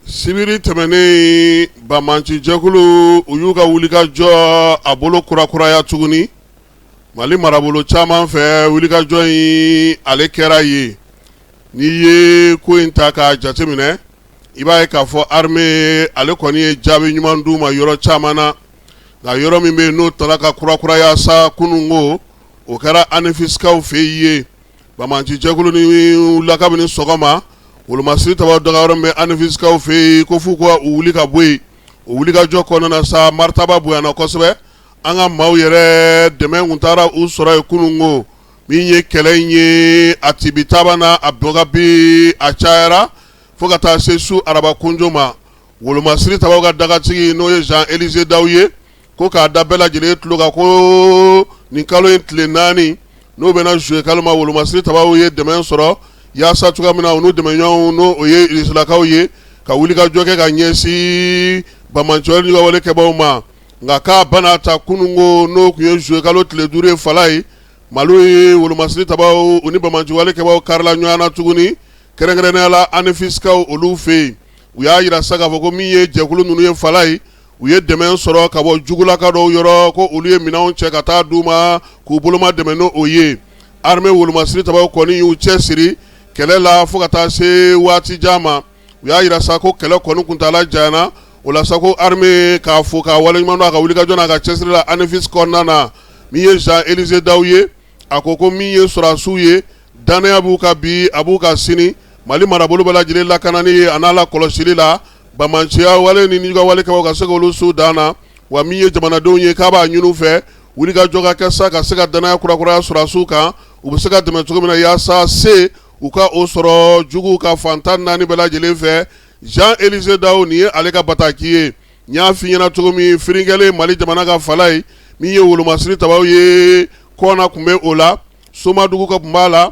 sibiri tɛmɛnen banbaanci jɛkulu u y'u ka wulikajɔ a bolo kurakuraya tuguni mali marabolo caman fɛ wulikajɔ in ale kɛra yen n'i ye ko in ta k'a jateminɛ i b'a ye k'a fɔ armee ale kɔni ye jaabi ɲuman d'u ma yɔrɔ caman na nka yɔrɔ min bɛ yen n'o tala ka kurakuraya sa kununko o kɛra anefisikaw fɛ yen ye Banbaanci jɛkulu ni la kabini sɔgɔma wolomasiri tabaaw dagayɔrɔ bɛ anefisikaw fɛ yen ko f'u ka wuli ka bɔ yen o wulikajɔ kɔnɔna sa maritaba bonyana kosɛbɛ an ka maaw yɛrɛ dɛmɛ kun taara u sɔrɔ yen kunun ko min ye kɛlɛ in ye a tibitabana a dɔgɔ bi a cayara fo ka taa se su araba kunjo ma wolomasiri tabaaw ka dagatigi n'o ye Jean Elize Dawu ye ko k'a da bɛɛ lajɛlen tulo kan ko nin kalo in tile naani n'o bɛnna juillet kalo ma wolomasiri tabaaw ye dɛmɛ sɔrɔ yaasa cogoya min na u n'u dɛmɛɲɔɔnw n'o ye Irisilakaw ye ka wulikajɔ kɛ ka ɲɛsin banbaanci wale nijuguya wale kɛbaaw ma nka k'a ba n'a ta kunun ko n'o kun ye juillet kalo tile duuru ye Falaye Mali ye wolomasiri tabaaw u ni banbaanci wale kɛbaaw karila ɲɔɔn na tuguni kɛrɛnkɛrɛnnenya la anefisikaw olu fɛ yen u y'a yira sa k'a fɔ ko min ye jɛkulu ninnu ye Falaye u ye dɛmɛ sɔrɔ ka bɔ jugulaka dɔw yɔrɔ ko olu ye minɛnw cɛ ka taa d'u ma k'u boloma dɛmɛ n'o ye armee wolomasiri tabaaw kɔni y'u cɛ siri kɛlɛ la fo ka taa se waati jan ma u y'a yira sa ko kɛlɛ kɔni kuntaala janyana o la sa ko armee k'a fo k'a waleɲuman dɔn a ka wulikajɔ n'a ka cɛsiri la anefisi kɔnɔna na min ye Jean Elize Dawu ye a ko ko min ye sɔrɔdasiw ye dannaya b'u kan bi a b'u kan sini Mali marabolo bɛɛ lajɛlen lakanani a n'a lakɔlɔsili la banbaanciya wale ni nijuguya wale kɛbaaw ka se k'olu s'u dan na wa min ye jamanadenw ye k'a b'a ɲini u fɛ wulikajɔ ka kɛ sa ka se ka dannaya kurakuraya sɔrɔdasiw kan u bɛ se ka dɛmɛ cogo min na yaasa se u ka o sɔrɔ juguw kan fan tan ni naani bɛɛ lajɛlen fɛ Jean Elize Dawu nin ye ale ka bataki ye n y'a fɔ i ɲɛna cogo min firinkɛlen mali jamana kan Falaye min ye wolomasiri tabaaw ye Kɔna kun bɛ o la somadugu ka kun b'a la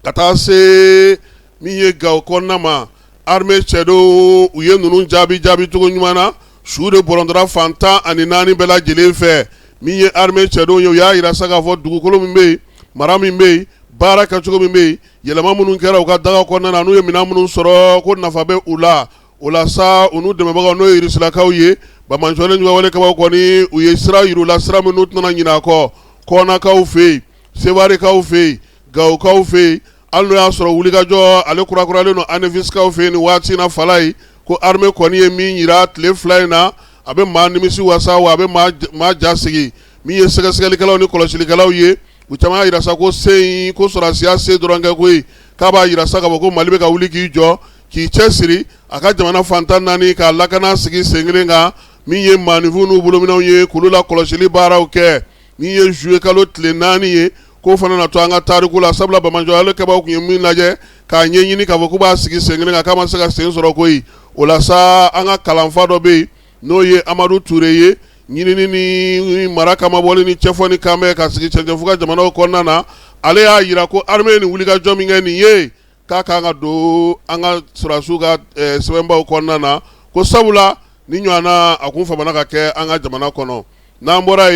ka taa se min ye Gawo kɔnɔna ma armee cɛdenw u ye ninnu jaabi jaabicogo ɲuman na su de bɔrɔntɔra fan tan ani naani bɛɛ lajɛlen fɛ min ye armee cɛdenw ye u y'a yira sa k'a fɔ dugukolo min bɛ yen mara min bɛ yen baara kɛcogo min bɛ yen yɛlɛma minnu kɛra u ka daga kɔnɔna na n'u ye minɛn minnu sɔrɔ ko nafa bɛ u la o la sa u n'u dɛmɛbagaw n'o ye Irisilakaw ye, banbaanci wale nijuguya wale kɛbaaw kɔni u ye sira yira u la, sira min n'u tɛna ɲinɛ a kɔ, kɔnakaw fɛ yen, sewarekaw fɛ yen, gawokaw fɛ yen, hali n'o y'a sɔrɔ wulikajɔ ale kurakurayalen don anefisikaw fɛ yen nin waati in na Falaye, ko armee kɔni ye min yira tile fila in na, a bɛ maa nimisi wasa wa a bɛ maa ja sigi, min ye sɛgɛsɛgɛlikɛlaw ni kɔlɔsilikɛlaw ye, u caman y'a yira sa ko se in ko sɔrɔdasiya se dɔrɔn tɛ koyi, k'a b'a yira sa k'a fɔ ko Mali bɛ ka wuli k'i jɔ k'i cɛ siri a ka jamana fan tan naani k'a lakana sigi sen kelen kan min ye maa nifinw n'u bolominɛw ye k'olu la kɔlɔsili baaraw kɛ min ye zuye kalo tile naani ye k'o fana na to an ka tariku la sabula banbaanci wale kɛbaaw tun ye min lajɛ k'a ɲɛ ɲini k'a fɔ k'u b'a sigi sen kelen kan k'a ma se ka sen sɔrɔ koyi o la sa an ka kalanfa dɔ bɛ yen n'o ye amadu ture ye ɲinini ni mara kama bɔlen ni cɛfɔ ni kanbɛn ka sigi cɛncɛnfuga jamanaw kɔnɔna na ale y'a jira ko arime ni wulikajɔ min kɛ nin ye k'a kan ka don an ka sɔrɔdasiw ka sɛbɛnbaw kɔnɔna na ko sabula ni ɲɔgɔnna a tun famana ka kɛ an ka jamana kɔnɔ n'an bɔra yen